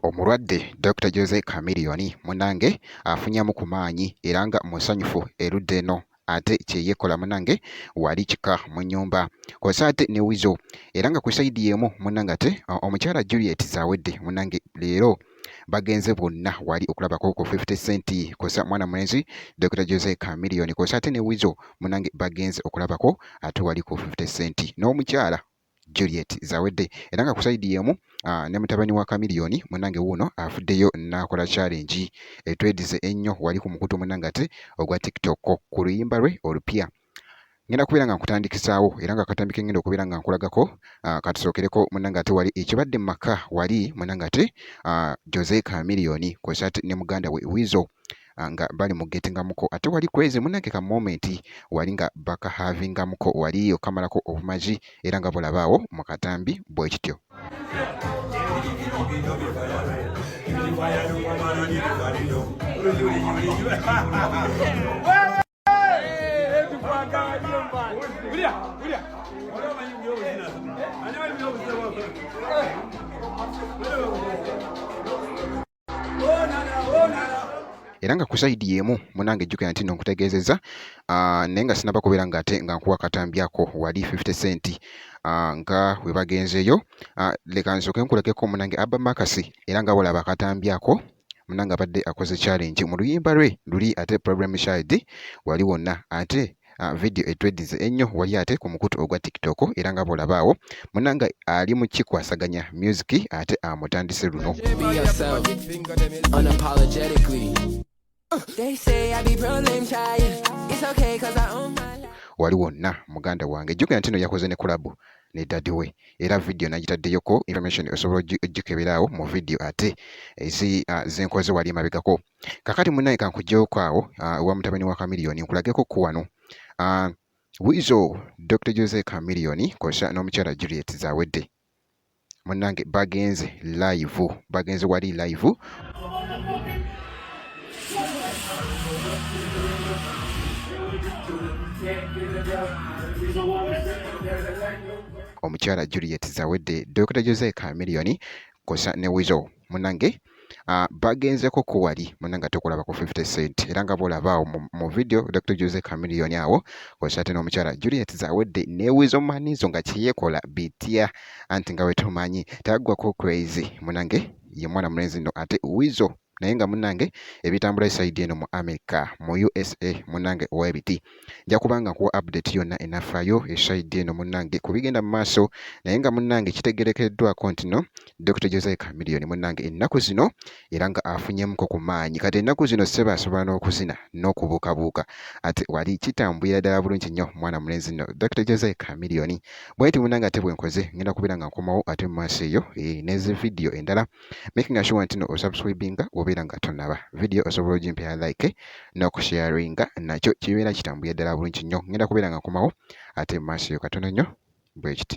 Omulwadde Dokita Jose Chameleone munange afunyamu ku maanyi era nga musanyufu erudda eno. ate kyeyekola munange wali kika mu nyumba kwasa ate ne wizo era nga ku side yemu munange ate omukyala Juliet zawedde munange leero bagenze bonna wali okulabako ku 50 cent kosa mwana mulenzi Dr. Jose Chameleone kosa ate ne wizo munange bagenze okulabako ate wali ku 50 cent n'omukyala Juliet Zawedde era nga ku sayidi y'emu ne mutabani wa Chameleone munange wuuno afuddeyo n'akola challenge etwedize ennyo wali ku mukutu munange ate ogwa TikTok ku luyimba lwe olupya ngenda kubeera nga nkutandikisaawo era nga akatambi ke ngenda okubeera nga nkulagako katusookereko munange ate wali ekibadde mu maka wali munange ate Jose Chameleone kw'ossa ne muganda we Weasel ah, nga bali mu getingamuko ate wali kwezi munange ka moment wali nga baka havingamuko wali okamalako obumazi era nga bulabaawo mu katambi bwe kityo Hey, era nga ku sayidi y'emu munange ejjukira nti no nkutegeezezza ah, naye nga sinaba kubeera nga ate nga nkuwa katambyako wali 50 cent ah, nga we bagenzeeyo ah, leka nsooke nkulekeko munange abba makasi era nga walaba katambyako munange abadde akoze challenge mu luyimba lwe luli ate problem child wali wonna ate uh, video etwedize ennyo wali ate ku mukutu ogwa tiktok era nga bwolabaawo munanga ali mu kikwasaganya music ate amutandise luno They say I be problem child. It's okay cause I own my wali wonna muganda wange jjukira nti no yakoze ne kulabu ne dadi we era vidiyo nagitaddeyoko information osobola ojjukebera awo mu vidiyo ate ezi ah, zenkoze wali emabegako kakati munaye kankujjewoko awo ah, ewa mutabani wa kamiliyoni nkulageko ku wano ah, wizo dr jose kamiliyoni kosa n'omukyala juliet zawedde munange bagenze live bagenze wali live omukyala juliet zawedde dr jose kamiliyoni kosa ne wizo munange uh, bagenzeko ku wali munange ate okulaba ku 50 cent era nga bwolaba awo mu video dr jose camilion awo kwesa ate n'omukyala juliet zawedde newizo manizo nga kyeyekola bitya anti nga wetumanyi taggwako crazy munange ye mwana mulenzi no ate wizo naye nga munange ebitambula esaidi eno mu america mu usa munange webiti nja kuba nga nkuwa update yonna enafaayo esaidi eno munnange ku bigenda mu maaso naye nga munnange kitegerekeddwako ntino Dr Josiah Chameleone munnange ennaku zino era nga afunyemuko ku maanyi kati ennaku zino sseba asobola n'okuzina n'okubuukabuuka ate wali kitambulira ddala bulungi nnyo mwana mulenzi nno Dr Josiah Chameleone bwenti munnange ate bwenkoze ngenda kubeera nga nkomawo ate mu maaso eyo eh, nezi vidiyo endala making sure nti no osubscribinga wobeera nga tonaba video osobola ogimpera like n'okusharinga nakyo kibeera kitambulira ddala bulungi nnyo ngenda kubeera nga nkomawo ate mu maaso yo katono nnyo bwekiti